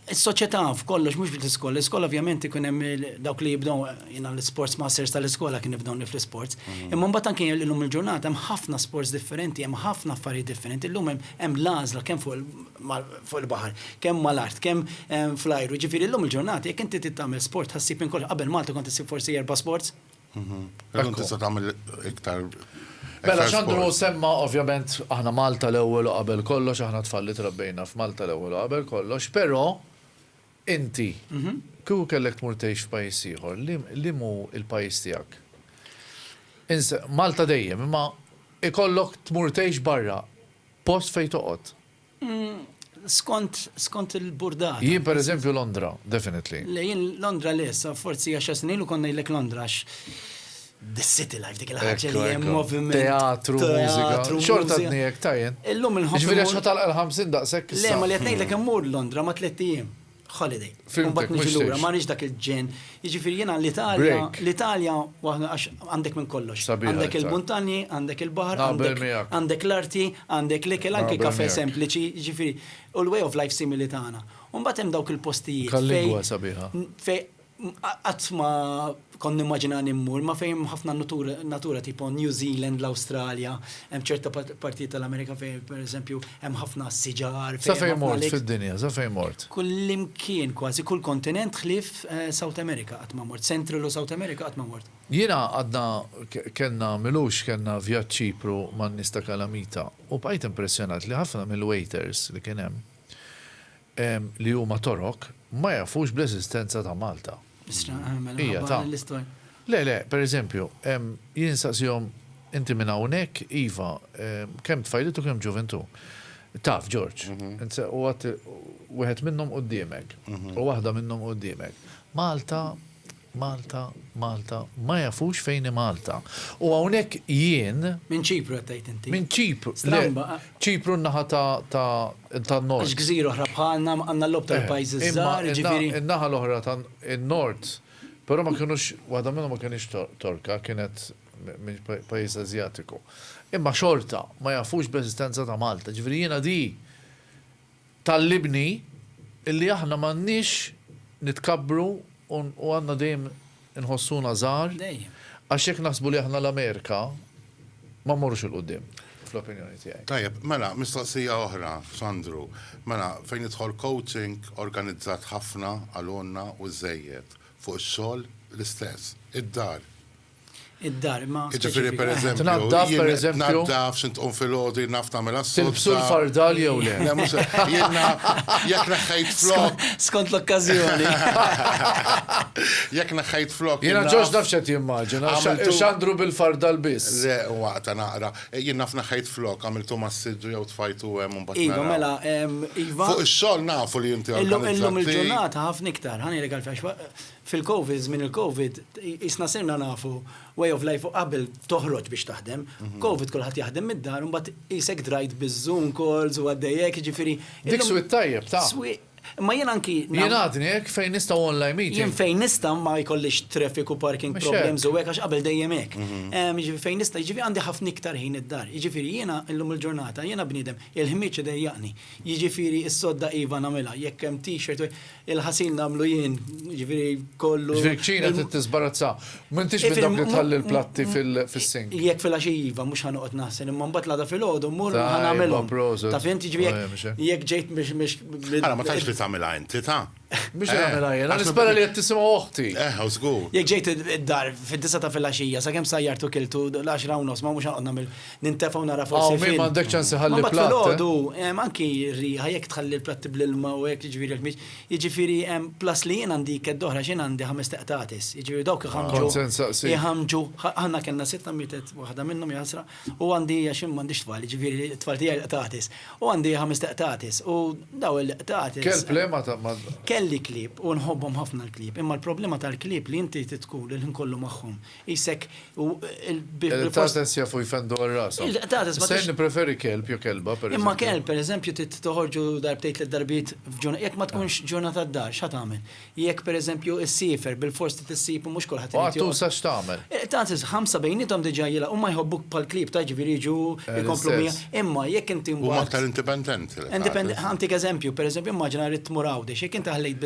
[SPEAKER 4] Is-soċjetà f'kollox mhux biss l-iskola. L-iskola ovvjament ikun hemm dawk li jibdew jiena l-isports masters tal-iskola kien nibdewni fl-isports. Imma mbagħad anke illum il-ġurnata hemm ħafna sports differenti, hemm ħafna affarijiet differenti. Illum hemm l-għażla kemm fuq il-baħar, kemm mal-art, kemm fl-ajru. Jiġifieri llum il-ġurnata jekk inti trid tagħmel sport ħassib minn kollox. Qabel Malta kont issib forsi erba' sports. Illum
[SPEAKER 5] tista' tagħmel iktar. Mela
[SPEAKER 2] x'Andru semma ovvjament aħna Malta l-ewwel u qabel kollox, aħna tfal li trabbejna f'Malta l-ewwel u qabel kollox, però inti kieku kellek tmur tgħix f'pajjiż ieħor, liem hu l-pajjiż tiegħek? Malta dejjem, imma ikollok tmur tgħix barra, post fejn toqgħod. Skont,
[SPEAKER 4] skont il-burdata. Jien per eżempju Londra,
[SPEAKER 2] definitely. Le, jien Londra
[SPEAKER 4] le, sa forsi għaxar snin ilu kont ngħidlek Londra għax the city life dik il-ħaġa li hemm moviment. Teatru, mużika.
[SPEAKER 2] Xorta dniek tajjen. Illum il-ħobb. Ġifieri għax
[SPEAKER 4] ħatalqa l-50
[SPEAKER 2] daqshekk. Le, ma li qed ngħidlek immur
[SPEAKER 4] Londra ma' tliet ijiem. holiday. Fimtek, mux lura,
[SPEAKER 2] ma nix dak il-ġen.
[SPEAKER 4] Iġifir jena l-Italja, l-Italja, għax għandek minn kollox. Għandek il-montani, għandek il-bahar, għandek l-arti, għandek l-ikel, anke kafe sempliċi, iġifiri, u l-way of life simili tagħna. Umbat hemm dawk il-postijiet.
[SPEAKER 2] Fej
[SPEAKER 4] Qatt ma kont nimmaġinani mmur, ma fejn hemm ħafna natura tipo New Zealand, l-Awstralja, hemm ċerta partijiet tal-Amerika fejn pereżempju hemm ħafna siġar. Sa fejn mort
[SPEAKER 2] fid-dinja, sa fejn mort? Kullimkien kważi,
[SPEAKER 4] kull kontinent ħlief South America qatt ma mort, Central u South America qatt ma mort. Jiena għadna
[SPEAKER 2] kellna m'ilux kellna vjaġġ Ċipru man-nies ta' Kalamita u bqajt impressjonat li ħafna mill-waiters li kien hemm li huma Torok ma jafux bl-eżistenza ta' Malta. Hija
[SPEAKER 4] ta'. Le, le,
[SPEAKER 2] per eżempju, jien nsaqsihom, inti minn hawnhekk, iva, kemm tfajliet u kemm ġuvintu. Taf, Ġorġ, u għad wieħed minnhom quddiemek, u waħda minnhom quddiemek. Malta Malta, Malta, ma jafux fejn hi Malta. U hawnhekk jien. Minn Ċipru qed tgħid
[SPEAKER 4] inti. Minn Ċipru. Stramba.
[SPEAKER 2] Ċipru n-naħa tan-Nord. Għax gżira
[SPEAKER 4] oħra bħalna għandna l-logħob tal-pajjiżi ż-żgħar, jiġifieri. Imma n-naħa l-oħra
[SPEAKER 2] tan-Nord, però ma kinux, waħda minnhom ma kinitx Torka, kienet minn pajjiż Asjatiku. Imma xorta ma jafux bl-eżistenza ta' Malta. Jiġifieri jiena di. Tgħallimni li aħna m'għandniex nitkabbru u għandna dejjem inħossuna żgħar għax jekk naħsbu li aħna l-Amerika ma mmorrux 'il quddiem, fl-opinjoni tiegħi. Tajjeb, mela mistoqsija
[SPEAKER 5] oħra f'Sandru. Mela fejn jidħol coaching organizzat ħafna għal għonna u żżejjed, fuq ix-xogħol l-istess, id-dar, id-dar
[SPEAKER 4] ma. Ġifieri pereżempju.
[SPEAKER 5] Tnaddaf pereżempju. Tnaddaf xint tqum fil-ħodu naf tagħmel assu. Tilbsu l-fardal jew
[SPEAKER 2] le. Jiena
[SPEAKER 5] jekk naħħajt flok. Skont l-okkażjoni. Jekk naħħajt flok. Jiena ġoġ naf x'qed
[SPEAKER 2] jimmaġina. X'għandru bil-fardal biss. Le waqta naqra.
[SPEAKER 5] Jien naf naħħajt flok għamiltu mas-siddu jew tfajtu hemm u mbagħad. Iva mela
[SPEAKER 4] iva. Fuq ix-xogħol nafu
[SPEAKER 5] li inti. Illum il-ġurnata
[SPEAKER 4] ħafna iktar. Ħanejlek għalfejn Fil-Covid, żmien il-Covid, qisna sirna nafu way of life u qabel toħroġ biex taħdem. Covid kulħadd jaħdem mid-dar u mbagħad qisek drajt biż-Zoom calls u għaddejjek, jiġifieri. Dik swieq tajjeb,
[SPEAKER 2] ta'. Swieq. Imma jien anki.
[SPEAKER 4] Jien għadni hekk fejn
[SPEAKER 2] nista' online meeting. Jien fejn nista' ma
[SPEAKER 4] jkollix traffic u parking problems u hekk għax qabel dejjem hekk. Jiġifieri fejn nista', jiġifieri għandi ħafna iktar ħin id-dar. Jiġifieri jiena llum il-ġurnata jiena bniedem il-ħmieġ idejjaqni. Jiġifieri s-sodda iva nagħmilha, jekk hemm t-shirt u hekk. Il-ħasil nagħmlu jien, jiġifieri kollu. Jiġifieri kċina trid
[SPEAKER 2] tiżbarazza. M'intix minn dawk li tħalli l-platti fis-sink. Jekk fil-għaxija iva,
[SPEAKER 4] mhux ħa noqgħod naħsel, imma mbagħad l-għada filgħodu mmur u ħa nagħmilhom. Ta' fint jiġifieri jekk ġejt biex biex. Ara ma tgħidx li tagħmilha inti ta'.
[SPEAKER 5] Biex nagħmilha
[SPEAKER 2] jien, għax nispera li qed tisimgħu oħti. Eh, żgur. Jekk
[SPEAKER 5] ġejt id-dar
[SPEAKER 4] fid-disa ta' fil-għaxija, sakemm sajjartu kiltu l-10 u nofs ma mhux ħa noqgħod nagħmel. nintefgħu nara forsi film. Ma għandek ċans iħalli
[SPEAKER 2] platt. Ma filgħodu hemm anki
[SPEAKER 4] riħa jekk tħalli l-platti bl-ilma u hekk jiġifieri jekk mhix. Jiġifieri hemm plus li jien għandi kedd oħra x'in għandi ħames teqtatis. Jiġifieri dawk iħamġu. Iħamġu. Aħna kellna sitta mietet waħda minnhom jasra u għandi għax ma għandix tfal, jiġifieri tfal tiegħi qtatis. U għandi
[SPEAKER 2] ħames
[SPEAKER 4] teqtatis u
[SPEAKER 2] daw
[SPEAKER 4] il-qtatis. Kell plema
[SPEAKER 2] ta'
[SPEAKER 4] ma. Kelli klib u nħobbhom ħafna l-klib. Imma l-problema tal-klib li inti tkun il-ħin kollu magħhom. Isek u il-bib. Tates
[SPEAKER 2] jafu jfendu għal rasu. Tates ma. Sejn preferi kelb jo kelba per Imma kelb per eżempju
[SPEAKER 4] toħorġu darbtejt l darbit f'ġurnata. Jek ma tkunx ġurnata d-dar, xa tagħmel? Jek per eżempju s-sifer bil-fors t tissib u mhux kulħadd. Għattu sa x'tagħmel.
[SPEAKER 2] Eh, Tates ħamsa
[SPEAKER 4] bejnietom diġà jila u ma jħobbuk pal-klib ta' ġifieri jiġu eh, jkomplu mija. Imma jekk inti U aktar indipendenti.
[SPEAKER 5] Indipendenti, għantik
[SPEAKER 4] eżempju, per eżempju immaġina rrid tmur għawdex, jekk inti ħallejt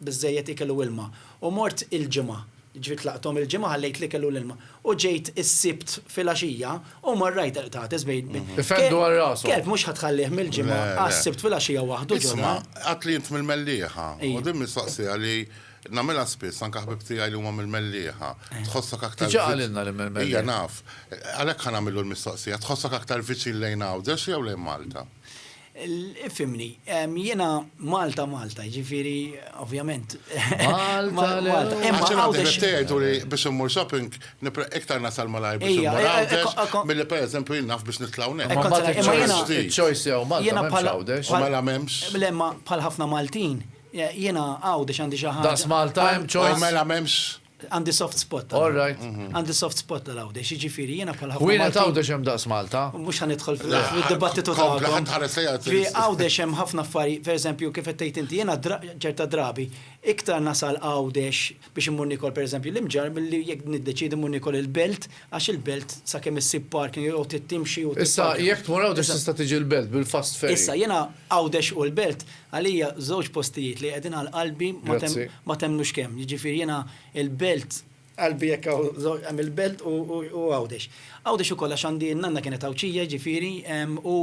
[SPEAKER 4] biżejjed ikel u ilma u mort il-ġimgħa Ġiet laqthom il-Ġimgħa, ħallejt l-ikel u l-ilma. U ġejt is-Sibt filgħaxija u marrajt il-qtates bejn. Ifendu għal rashom.
[SPEAKER 2] Kelb mhux ħa tħallih
[SPEAKER 4] mill-Ġimgħa għas-Sibt filgħaxija waħdu ġo dar. Isma', għadtli int mill-Mellieħa.
[SPEAKER 5] U din mistoqsija li nagħmilha spiss, anke ħbieb tiegħi li huma mill-Mellieħa. Tħossok aktar. Diġà qalilna li mill-Mellieħa.
[SPEAKER 2] Ija, naf.
[SPEAKER 5] Għalhekk ħa nagħmillu l-mistoqsija, tħossok aktar viċin lejn Għawdex jew lejn Malta?
[SPEAKER 4] Fhimni, jiena Malta Malta, jiġifieri ovvjament.
[SPEAKER 2] Malta Malta. Imma Għawdex.
[SPEAKER 5] Għawdex tgħid u li biex immur shopping nipra iktar nasal malajr biex immur Għawdex milli pereżempju jien naf biex nitla' hawnhekk. Imma mbagħad il-choice
[SPEAKER 2] choice jew Malta mhux Għawdex. U mela m'hemmx. Le
[SPEAKER 5] ma bħal ħafna
[SPEAKER 4] Maltin jiena Għawdex għandi xi ħaġa. Daqs Malta hemm choice.
[SPEAKER 2] U mela m'hemmx.
[SPEAKER 5] Għandi soft spot.
[SPEAKER 4] All right. Għandi
[SPEAKER 2] soft spot
[SPEAKER 4] tal-għawdex, ġifiri, jena bħal ħafna. Wienet għawdex hemm daqs
[SPEAKER 2] Malta. Mux għan idħol
[SPEAKER 4] fil-dibattitu ta' Fi għawdex hemm ħafna affari, per eżempju, kif tgħid inti, jena ċerta drabi, iktar nasal għawdex biex immur nikol, per eżempju, l-imġar, mill-li jek niddeċidi mmur nikol il-belt, Għax il-belt sakemm issib parking jew trid timxi u tipparka. Issa jekk tmur Għawdex
[SPEAKER 2] tista' tiġi l-belt bil-fast ferry. Issa jiena Għawdex
[SPEAKER 4] u l-belt għalija żewġ postijiet li qegħdin għal qalbi ma temmnux kemm. Jiġifieri jiena l-belt qalbi jekk hawn hemm il-belt u Għawdex. Għawdex ukoll għax għandi n-nanna kienet Għawdxija jiġifieri u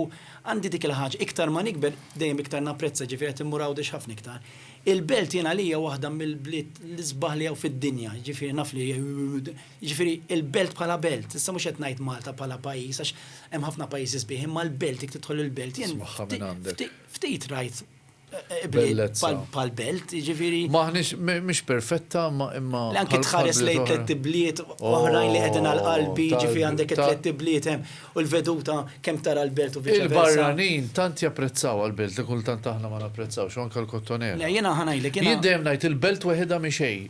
[SPEAKER 4] għandi dik il-ħaġa. Iktar ma nikber dejjem iktar napprezza jiġifieri qed immur Għawdex ħafna iktar. Il-belt jiena għalija waħda mill-bliet l-isbaħ li hawn fid-dinja jiġifieri naf li Jiġifieri l-belt bħala belt, issa mhux qed ngħid Malta bħala pajjiż għax hemm ħafna pajjiżi sbieħ, imma l-belt jekk tidħol il-belt jien ftit rajt ibliet bħal belt, jiġifieri. M'aħniex mhix
[SPEAKER 2] perfetta imma. Le anke tħares lejn
[SPEAKER 4] tliet ibliet oħrajn li qegħdin għal qalbi, jiġifieri għandek it-tliet ibliet hemm u l-veduta kemm tara l-belt u viċi versa. Il-barranin tant
[SPEAKER 2] japprezzawha l-belt li kultant aħna ma napprezzawx u anke l-Kottonera. Le jiena ħa ngħidlek jiena. Jien
[SPEAKER 4] dejjem ngħid il-belt
[SPEAKER 2] weħidha mhi xejn.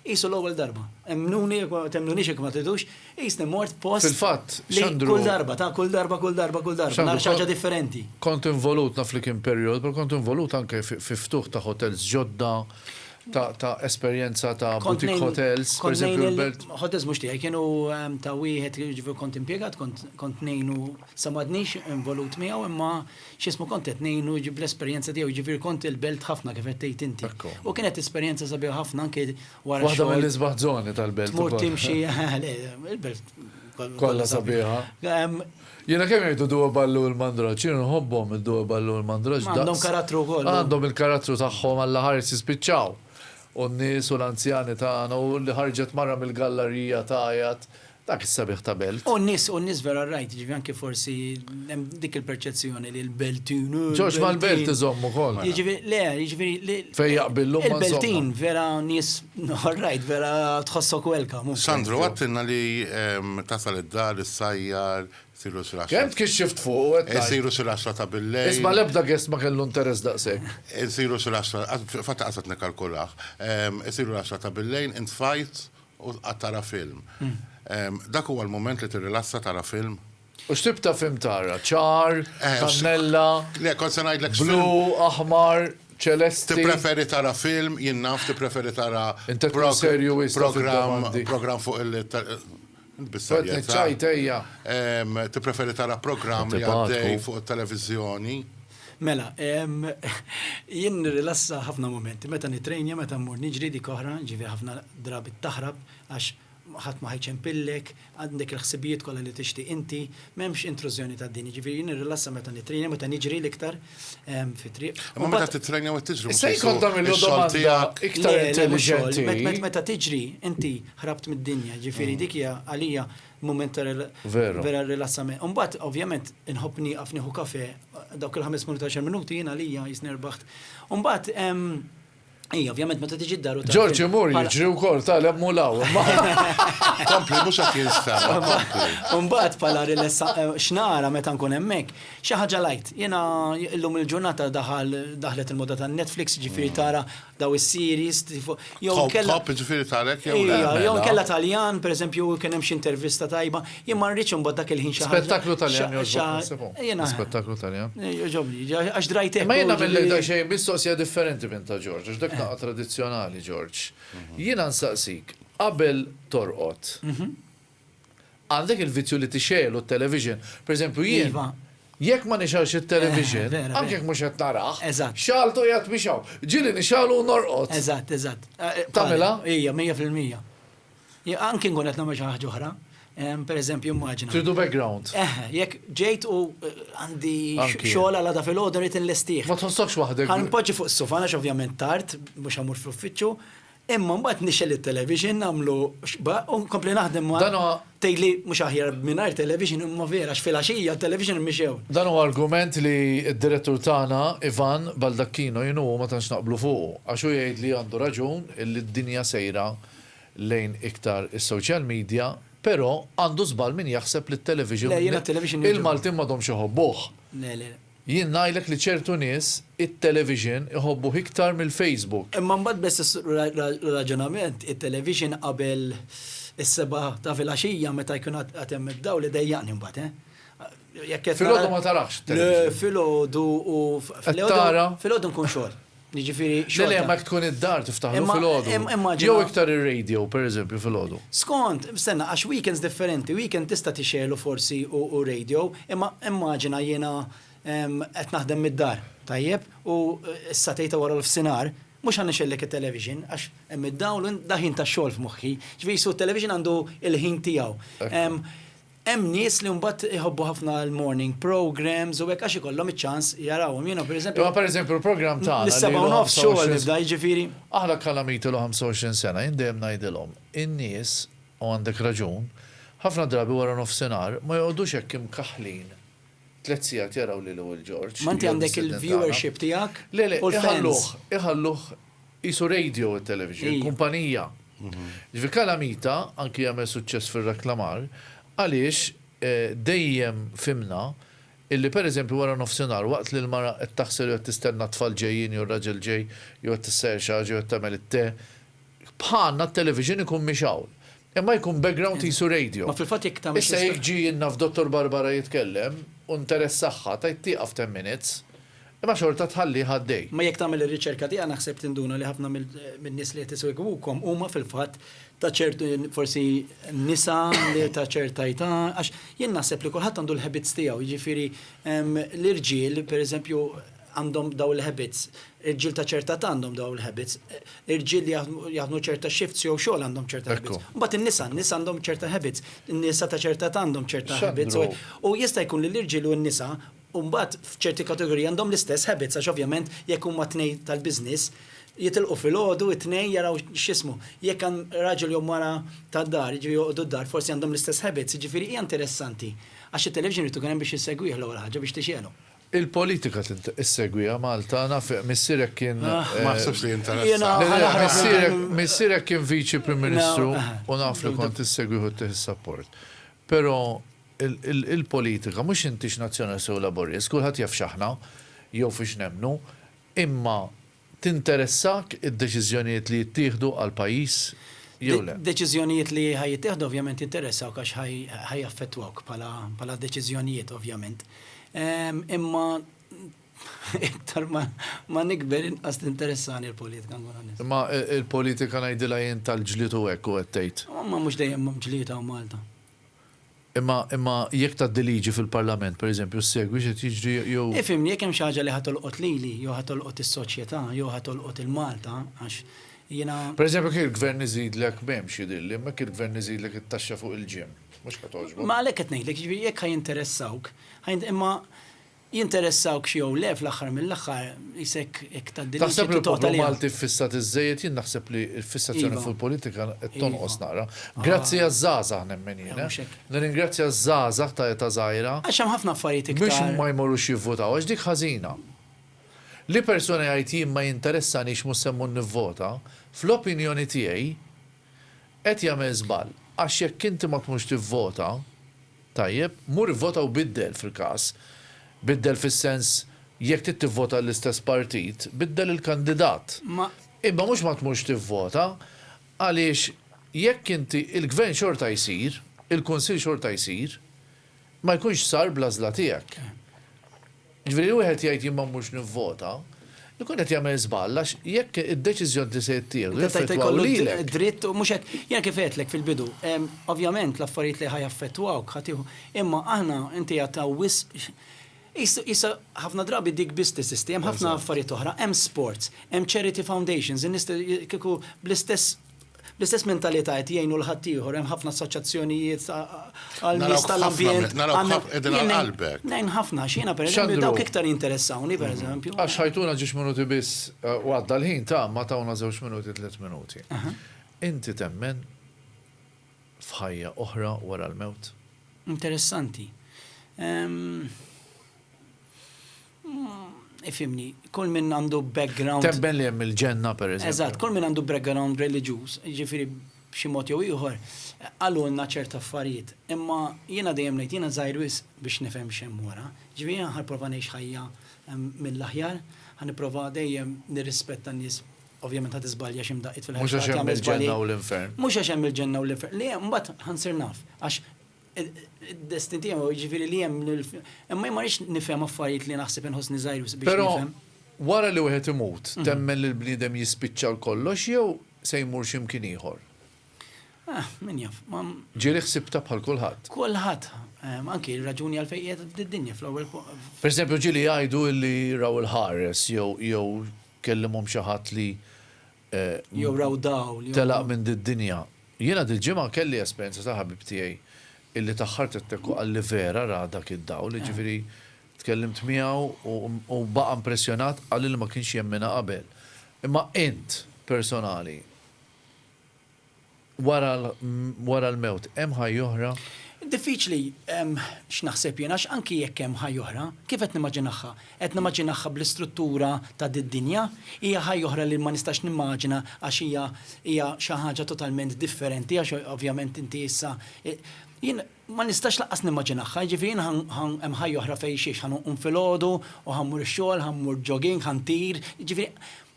[SPEAKER 4] Qisu l-ewwel darba. Emmnuni jekk ma temmnunix jekk ma tridux, qisni mort post. Fil-fatt, Xandru. Kull
[SPEAKER 2] darba, ta'
[SPEAKER 4] kull darba, kull darba, kull darba, nagħraf xi ħaġa differenti. Kont involut, naf
[SPEAKER 2] li kien perjodu, però kont involut anke fi ftuħ ta' hotels ġodda, ta' esperjenza ta' boutique hotels, pereżempju l-Belt. Hotels mhux tiegħi, kienu
[SPEAKER 4] ta' wieħed li jiġifieri kont impjegat, kont ngħinu, sa m'għadnix involut miegħu imma x'ismu kont qed ngħinu jiġi bl-esperjenza tiegħu, jiġifieri kont il-belt ħafna kif qed tgħid inti. U kienet esperjenza sabiħa ħafna anke wara. Waħda mill-isbaħ żoni
[SPEAKER 2] tal-belt. Tmur timxi,
[SPEAKER 4] il-belt kollha
[SPEAKER 2] sabiħa. Jiena kemm jgħidu duwa ballu l-mandraġġ, jiena nħobbhom id-duwa ballu l-mandraġġ. Għandhom karattru wkoll.
[SPEAKER 4] Għandhom il-karattru
[SPEAKER 2] tagħhom alla ħares jispiċċaw. U n-nies u l-anzjani tagħna u li ħarġet mara mill-gallarija tagħjat Dak is-sabiħ ta' belt. U n-nies, u n-nies vera
[SPEAKER 4] rajt, jiġifieri anke forsi hemm dik il-perċezzjoni li l-Beltin hu. Ġorġ mal-belt
[SPEAKER 2] iżomm ukoll. Jiġifieri, le, jiġifieri li.
[SPEAKER 4] Fejn jaqbillu ma'
[SPEAKER 2] żommhom. Il-Beltin vera
[SPEAKER 4] nies all right, vera tħossok welcome. Sandro, għedtilna li
[SPEAKER 5] tasal id-dar, issajjar, isiru xi l-għaxra. Kemm tkixxift fuq u
[SPEAKER 2] qed tgħid. Isiru xi l-għaxra ta'
[SPEAKER 5] billejl. Isma' l-ebda guest ma kellu
[SPEAKER 2] interess daqshekk. Isiru xi l-għaxra,
[SPEAKER 5] fil-fatt lanqas qed nikkalkulah. Isiru l-għaxra ta' billejl, int tfajt U tqgħad tara film. Dak huwa l-mument li tirrilassa tara film? U x'tip ta' film
[SPEAKER 2] tara? Ċar, kannella,
[SPEAKER 5] blu, aħmar,
[SPEAKER 2] ċelesti? Tippreferi tara
[SPEAKER 5] film, jien naf, tippreferi tara programm fuq il-
[SPEAKER 2] Tippreferi
[SPEAKER 5] tara programm li għaddej fuq it-televiżjoni? Mela,
[SPEAKER 4] jien nirrilassa ħafna mumenti. Meta nitrejnja, meta mmur niġri dik oħra, ġifieri ħafna drabi taħrab għax ħadd ma ħajċempillek, għandek il-ħsibijiet kollha li tixtieq inti, m'hemmx intrużjoni tad-din. Jiġifieri jien nirrilassa meta nitrejnja, meta niġri l-iktar fit-triq. Imma meta titrejnja
[SPEAKER 5] u tiġri Se jkun tagħmillu
[SPEAKER 2] domanda iktar intelliġenti. Meta tiġri
[SPEAKER 4] inti ħrabt mid-dinja, ġifieri dik hija għalija Mument ta' vera rilassament. Umbat, ovvjament, inħobb nieqaf nieħu kafe, dawk il-ħames minuti għaxar minuti jiena lija jisni rbaħt. Umbat, Ej, ovvjament, meta tiġi d-daru ta' Ġorġi mur jiġri
[SPEAKER 2] u kol ta' lemmu law.
[SPEAKER 5] Kompli, mux għat jinsta. Umbat,
[SPEAKER 4] pala rilessa, eh, xnara meta nkun emmek, xaħġa lajt. Jena, illum il-ġurnata daħal, daħlet il-moda ta' Netflix, ġifiri tara daw is-series tifo jew Top inkella top ġifieri tarek
[SPEAKER 5] jew le. Ija, jew mela. inkella
[SPEAKER 4] Taljan, pereżempju, kien hemm xi intervista tajba, jien ma rridx imbagħad dak il-ħin xi ħaġa. Spettaklu Taljan xa- jogħġbok xa-
[SPEAKER 2] nisibu. Jiena, Spettaklu Taljan. eh, jogħġobni, ġa- għax
[SPEAKER 4] drajtek. Imma jiena u mill ġifieri- daqsxejn
[SPEAKER 2] mistoqsija differenti minn ta' Ġorġ, għax dak naqa' tradizzjonali Ġorġ. Jiena nsaqsik, qabel torqod, Għandek il-vizzju li tixegħelu t-television. Per eżempju jien. Iva. Jekk ma nixgħelx it-television. Vera, vera. Anke jekk mhux qed narah. Eżatt. Xagħaltu qiegħed mixgħul. Ġieli nixgħelu u norqod. Eżatt, eżatt.
[SPEAKER 4] Tagħmilha?
[SPEAKER 2] Ija, mija
[SPEAKER 4] fil-mija. Anke nkun qed nagħmel xi ħaġa oħra. Per eżempju immaġina. Tridu background. Eħe,
[SPEAKER 2] jekk ġejt
[SPEAKER 4] u għandi Anki. xogħol għal għada filgħodu rrid inlestih. Ma tħossokx waħdek. Ħa
[SPEAKER 2] npoġġi fuq is-sufa għax
[SPEAKER 4] ovvjament tard, mhux ħa mmur fl-uffiċċju. Imma mbagħad nixgħel it-television nagħmlu x'ba u nkompli naħdem ma' Dan huwa- tgħidli mhux aħjar mingħajr television imma vera għax filgħaxija t-television mhix hawn. Dan huwa argument
[SPEAKER 2] li d-direttur tagħna Ivan Baldacchino jien u hu ma tantx naqblu fuqu, għax hu jgħid li għandu raġun illi d-dinja sejra lejn iktar is-social media, però għandu żball min jaħseb li t-television Le, jiena t-television nirġa' nagħmlu. il-Maltin m'għadhomx iħobbuh. Le, le, le. Jien ngħidlek li ċertu nies it-television iħobbuh iktar mill-Facebook. Imma mbagħad biss
[SPEAKER 4] issir raġunament, it-television qabel is-sebgħa ta' filgħaxija meta jkun għad hemm id-dawl idejjaqni mbagħad, eh. Jekk qed nara. Filgħodu
[SPEAKER 2] ma tarax it-television? Le, filgħodu
[SPEAKER 4] u. Qed tara? Filgħodu nkun xogħol. Jiġifieri xorta. Le, le, ma jekk tkun
[SPEAKER 2] id-dar tiftaħlu fil-għodu. Immaġina. Jew iktar ir-radio, pereżempju, fil-għodu. Skont, stenna,
[SPEAKER 4] għax weekends differenti, weekend tista' tixgħelu forsi u radio, imma immaġina jiena qed naħdem mid-dar, tajjeb, u s-satej ta' wara l-ofsinhar, mhux ħa nixgħellek it-television għax hemm id-dawl u dak ħin tax-xogħol f'moħħi. Ġifieri, so t-television għandu l-ħin tiegħu. Hemm nies li mbagħad iħobbu ħafna l-morning programmes u hekk għax ikollhom iċ-ċans jarawhom. Jiena pereżempju. Imma pereżempju l-programm
[SPEAKER 2] tagħna li. Lis-sebgħa u nofs xogħol
[SPEAKER 4] nibda, jiġifieri. Aħna Kalamit
[SPEAKER 2] ilu 25 sena, jien dejjem ngħidilhom, in-nies, u għandek raġun, ħafna drabi waranofsinhar ma joqogħdux hekk imkaħħlin tliet sigħat jaraw lili Wil George. Ma inti għandek il-viewership
[SPEAKER 4] tiegħek u l-fans. Le, le, iħalluh,
[SPEAKER 2] iħalluh. Qisu radio it-television, kumpanija. Ġifieri Calamita anki għamel suċċess fir-reklamar għaliex dejjem fhimna illi pereżempju wara nofsinhar waqt li l-mara qed taħsel jew qed tistenna t-tfal ġejjin jew r-raġel ġej jew qed tissajjar xi ħaġa jew qed tagħmel it-te, bħalna t-television ikun mhix hawn. Imma jkun background qisu radio. Ma fil-fatt jekk tagħmel xi. Issa
[SPEAKER 4] jekk ġie naf Dottor
[SPEAKER 2] Barbara jitkellem u nteressahha tgħid tieqaf ten minutes imma xorta tħallih għaddej. Imma jekk tagħmel ir-riċerka
[SPEAKER 4] tiegħek naħseb tinduna li ħafna min-nies li qed isegwukom huma fil-fatt ta' ċertu forsi nisa li ta' ċerta età għax jien naħseb li kulħadd għandu l-habits tiegħu, jiġifieri l-irġiel pereżempju għandhom dawn il-habits, irġiel ta' ċerta età għandhom dawn il-habits, irġiel li jaħdmu ċerta shifts jew xogħol għandhom ċerta habits. Imbagħad in-nisa, n-nisa għandhom ċerta habits, in-nisa ta' ċerta età għandhom ċerta habits u jista' jkun li l-irġiel u n-nisa u mbagħad f'ċerti kategoriji għandhom l-istess habits għax ovvjament jekk huma tnejn tal-business jitilqu filgħodu it-tnejn jaraw x'ismu. Jekk għan raġel jew mara tad-dar, jiġifieri joqogħdu d-dar forsi għandhom l-istess habits, jiġifieri hija interessanti għax it-television irid ikun hemm biex issegwih l-ewwel ħaġa biex tixgħelu. Il-politika
[SPEAKER 2] issegwiha Malta naf missierek kien Ma naħsibx li
[SPEAKER 5] jinteressa. Le le missierek missierek kien
[SPEAKER 2] Viċi Prim Ministru u naf li kont issegwih u ttih is-support. Però Il-politika mhux intix Nazzjonalist jew Laburist, kulħadd jaf x'aħna jew fiex nemmnu, imma tinteressak id-deċiżjonijiet li jittieħdu għall-pajjiż jew le? Deċiżjonijiet li ħa
[SPEAKER 4] jittieħdu ovvjament jinteressawk għax ħa jaffettwawk bħala deċiżjonijiet ovvjament. Imma iktar ma nikber inqas tinteressani l-politika nkun onest. Imma l-politika
[SPEAKER 2] ngħidilha jien tal-ġlied u hekk u qed tgħid. Imma mhux dejjem hemm
[SPEAKER 4] ġlied hawn Malta. Imma,
[SPEAKER 2] imma jekk tgħaddi liġi fil-Parlament, per eżempju, ssegwi x'qed jiġri jew. Ifhimni, jekk hemm xi ħaġa li
[SPEAKER 4] ħa tolqot lili, jew ħa tolqot is-soċjetà, jew ħa tolqot il-Malta, għax jiena. Per eżempju, jekk il-Gvern
[SPEAKER 2] iżidlek, m'hemmx jidhirli, imma jekk il-Gvern iżidlek it-taxxa fuq il-gym, mhux ħa togħġbok. Ma għalhekk qed ngħidlek, jiġifieri
[SPEAKER 4] jekk ħa jinteressawk, ħa jint, imma Jinteressawkx jew le fl-aħħar mill-aħħar qis hekk hekk tgħaddi l-liġi titgħod għaliha. Taħseb li l-poplu Malti
[SPEAKER 2] ffissat iżżejjed? Jien naħseb li l-fissazzjoni fuq il-politika qed
[SPEAKER 4] tonqos
[SPEAKER 2] naqra. Grazzi għaż-żgħażagħ nemmen jien. Nirringrazzja
[SPEAKER 4] ż-żgħażagħ
[SPEAKER 2] ta' età żgħira. Għax hemm ħafna affarijiet iktar.
[SPEAKER 4] Mhux ma jmorrux
[SPEAKER 2] jivvutaw
[SPEAKER 4] għax
[SPEAKER 2] dik ħażina. Li persuna jgħid jien ma jinteressanix mhux se mmur nivvota, fl-opinjoni tiegħi Qed jagħmel żball, għax jekk inti ma tmurx tivvota, tajjeb, mur ivvota u biddel fil-każ, biddel fis-sens jekk trid tivvota għall-istess partit, biddel il-kandidat. Ma. Imma mhux
[SPEAKER 4] ma tmurx
[SPEAKER 2] tivvota, għaliex jekk inti, il-Gvern xorta jsir, il-Kunsill xorta jsir, ma jkunx sar bl-għażla tiegħek. Jiġifieri li wieħed jgħid jien ma mmurx nivvota, ikun qed jagħmel żball għax jekk id-deċiżjoni li se jittieħdu jaffettwaw lilek. dritt u mhux hekk.
[SPEAKER 4] Jiena kif għedtlek fil-bidu, ovvjament l-affarijiet li ħa jaffettwawk ħa tieħu, imma aħna inti għad hawn wisq issa ħafna drabi dik biss teżisti, hemm ħafna affarijiet oħra, hemm sports, hemm charity foundations, in-nies kieku bl-istess, Bl-istess mentalità qed jgħinu l ħaddieħor, hemm ħafna assoċjazzjonijiet għal nies tal-ambjent. Ngħin ħafna x'jiena pereżempju dawk iktar jinteressawni pereżempju. Għax ħajtuna ġiex
[SPEAKER 2] minuti biss u għadda l-ħin ta' ma tawna żewġ minuti tliet minuti. Inti temmen f'ħajja oħra wara l-mewt? Interessanti.
[SPEAKER 4] Ifhimni, kull min għandu background. Temmen li hemm il-ġenna
[SPEAKER 2] pereżempju. Eżatt, kull min għandu background
[SPEAKER 4] reliġjuż, jiġifieri b'xi mod jew ieħor, qalulna ċerta affarijiet. Imma jiena dejjem ngħid, jiena żgħir wisq biex nifhem x'hemm wara. Jiġifieri jiena ħa nipprova ngħix ħajja mill-aħjar, ħa nipprova dejjem nirrispetta n-nies, ovvjament ħa tiżbalja xi mdaqqiet fil-ħajja. Mhux għax hemm il-ġenna u
[SPEAKER 2] l-infern. Mhux għax hemm il-ġenna u
[SPEAKER 4] l-infern. Le, mbagħad ħa nsir naf. Għax Id-destin tiegħu jiġifieri li hemm imma ma rridx nifhem affarijiet li naħseb inħossni żgħir wisq biex nifhem. Però wara li wieħed
[SPEAKER 2] imut, temmen li l-bniedem jispiċċa għal kollox jew se jmur xi mkien ieħor? Ah,
[SPEAKER 4] min jaf, ma. Ġieli ħsibtha
[SPEAKER 2] bħal kulħadd. Kulħadd,
[SPEAKER 4] anki r-raġuni għalfejn qiegħed f'din id-dinja fl-ewwel. Pereżempju ġieli
[SPEAKER 2] jgħidu li raw il-ħares jew kellimhom xi ħadd li jew
[SPEAKER 4] raw dawl, jew. Telaq minn did-dinja.
[SPEAKER 2] Jiena dil-ġimgħa kelli esperjenza ta' ħabib tiegħi illi taħħart it-tekk u qalli vera ra dak id-dawl, jiġifieri tkellimt miegħu u baqa' impressjonat, qalli li ma kienx jemminha qabel. Imma int, personali? wara l-mewt hemm ħajja oħra? Diffiċli
[SPEAKER 4] x'naħseb jien għax anki jekk hemm ħajja oħra, kif qed nimmaġinagħha? Qed nimmaġinagħha bl-istruttura ta' did-dinja? Hija ħajja oħra li ma nistax nimmaġina għax hija xi ħaġa totalment differenti għax ovvjament inti issa, jien Ma nistax lanqas nimmaġinahha, jiġifieri jien hemm ħajja oħra fejn xiex, ħa nqum filgħodu u ħa mmur ix-xogħol, ħa mmur jogging, ħa ntir, jiġifieri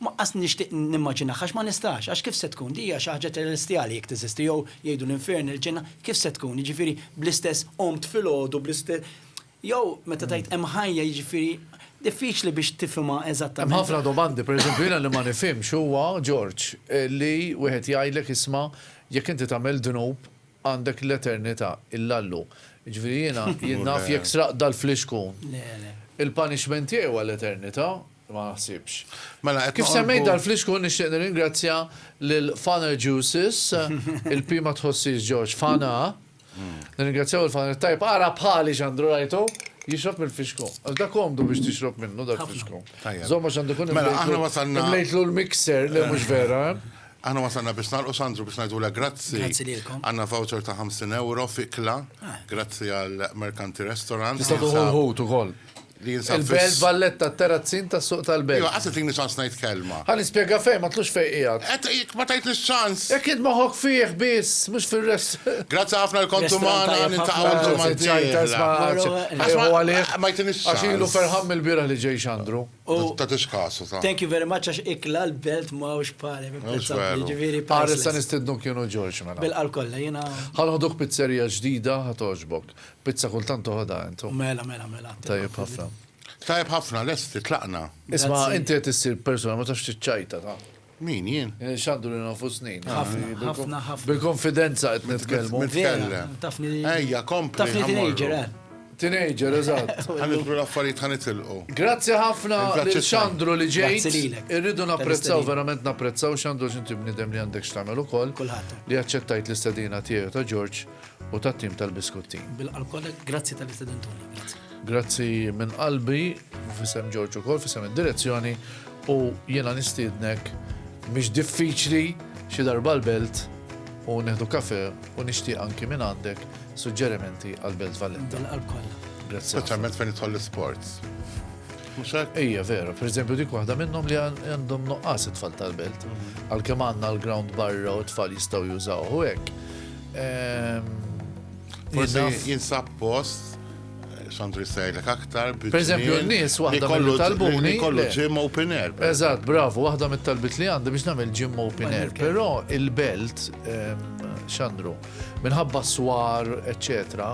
[SPEAKER 4] lanqas nixtieq nimmaġinahha għax ma nistax, għax kif se tkun, din hija xi ħaġa ċelestjali jekk teżisti jew jgħidu l-infern, il-ġenna, kif se tkun, jiġifieri bl-istess qomt filgħodu, bl-istess, jew meta tgħid hemm ħajja jiġifieri diffiċli biex tifhimha eżattament. Hemm ħafna domandi, pereżempju
[SPEAKER 2] jiena li ma nifhimx huwa, George, li wieħed jgħidlek isma' jekk inti tagħmel dnub, Għandek l-eternita illallu. Jiġifieri jiena jien naf jekk sraqt dal-flixkun. Il-punishment tiegħi huwa l-eternita? Ma naħsibx. Kif semmejt dal-flixkun nixtieq nirringrazzja lil Fana Juices, il-P ma tħossiex George, Fana. Nirringrazzjaw lil Fana it-tajb, ara bħali x'għandu rajtu? Jixrob mill-flixkun. Għax dak komdu biex tixrob minnu dal-flixkun. Żomm għax għandu jkun imlejtlu l-mixer, le mhux vera. Aħna wasalna
[SPEAKER 5] biex nagħlqu Sandru biex ngħidulek grazzi. Grazzi lilkom. Għandna
[SPEAKER 4] voucher ta'
[SPEAKER 5] 50 euro fikla, ah. grazzi għal Merkanti Restaurant. Nista' tuħu ħut
[SPEAKER 2] ukoll. Il-Belt Valletta terazzin ta' suq tal-Belt. Iva, għasset li ċans ngħid
[SPEAKER 5] kelma. Għan nispjega fej, ma tlux
[SPEAKER 2] fej qiegħed. Qed jek ma tajt ċans.
[SPEAKER 5] Jekk id moħok fih
[SPEAKER 2] biss, mhux fir-rest. Grazzi ħafna
[SPEAKER 5] l-kontumana nintaqgħu l-ġimgħa. Ma jtinix. Għax ilu ferħam il-bira
[SPEAKER 2] li ġej xandru. Ta' tixkasu
[SPEAKER 5] ta'. Thank you very much għax ikla
[SPEAKER 4] l-belt ma' ux pari. Ġiviri
[SPEAKER 2] pari. Għarri sa' nistidnu kienu ġorġ mela. Bil-qal kolla jena.
[SPEAKER 4] Għanħoduk pizzerija
[SPEAKER 2] ġdida għatoġbok. Pizza kultan toħoda jentu. Mela, mela, mela. Tajib
[SPEAKER 4] ħafna.
[SPEAKER 2] Tajib ħafna,
[SPEAKER 5] l-esti, tlaqna. Isma, inti għet
[SPEAKER 2] issir persona ma tafx t-ċajta ta'. Min, jien?
[SPEAKER 5] X'għandu lil nfusni. Ħafna,
[SPEAKER 2] ħafna, ħafna.
[SPEAKER 4] Bil-konfidenza
[SPEAKER 2] qed nitkellmu.
[SPEAKER 5] Nitkellem.
[SPEAKER 2] Tafni.
[SPEAKER 5] Ejja, kompli.
[SPEAKER 4] Tafni
[SPEAKER 2] teenager, eh. Teenager, eżatt. Ħanidħlu l-affarijiet
[SPEAKER 5] ħanitilqu. Grazzi ħafna
[SPEAKER 2] lil Xandru
[SPEAKER 5] li ġejt.
[SPEAKER 2] Irridu napprezzaw, verament napprezzaw
[SPEAKER 4] Xandru
[SPEAKER 2] x'inti bniedem li għandek x'tagħmel ukoll. Kulħadd. Li aċċettajt l-istedina tiegħu ta' George. u tat-tim tal-biskutti. Bil-qalb kollek, grazzi
[SPEAKER 4] tal-istedentuni. Grazzi. Grazzi minn
[SPEAKER 2] qalbi, fissem Ġorġu kol, fissem id-direzzjoni u jena nistidnek mhix diffiċli xi darba l-belt u neħdu kafe u nixtieq anki minn għandek suġġerimenti għal Belt Valletta. Għal kollha. Grazzi.
[SPEAKER 4] Speċjalment
[SPEAKER 2] fejn jitħol
[SPEAKER 5] l-sports. Ejja, vera, per eżempju
[SPEAKER 2] dik waħda minnhom li għandhom noqqas it-tfal tal-belt. Mhm. Għalkemm għandna l-ground barra u t-tfal jistgħu jużaw u hekk.
[SPEAKER 5] Forse jinsab post xandu jistajlek aktar. Per eżempju, n-nis
[SPEAKER 2] waħda kollu talbuni. Kollu gym open
[SPEAKER 5] air. Eżat, bravo, waħda
[SPEAKER 2] mit-talbit li għandi biex namel gym open air. Pero il-belt, ehm, xandru, minħabba swar, eccetera,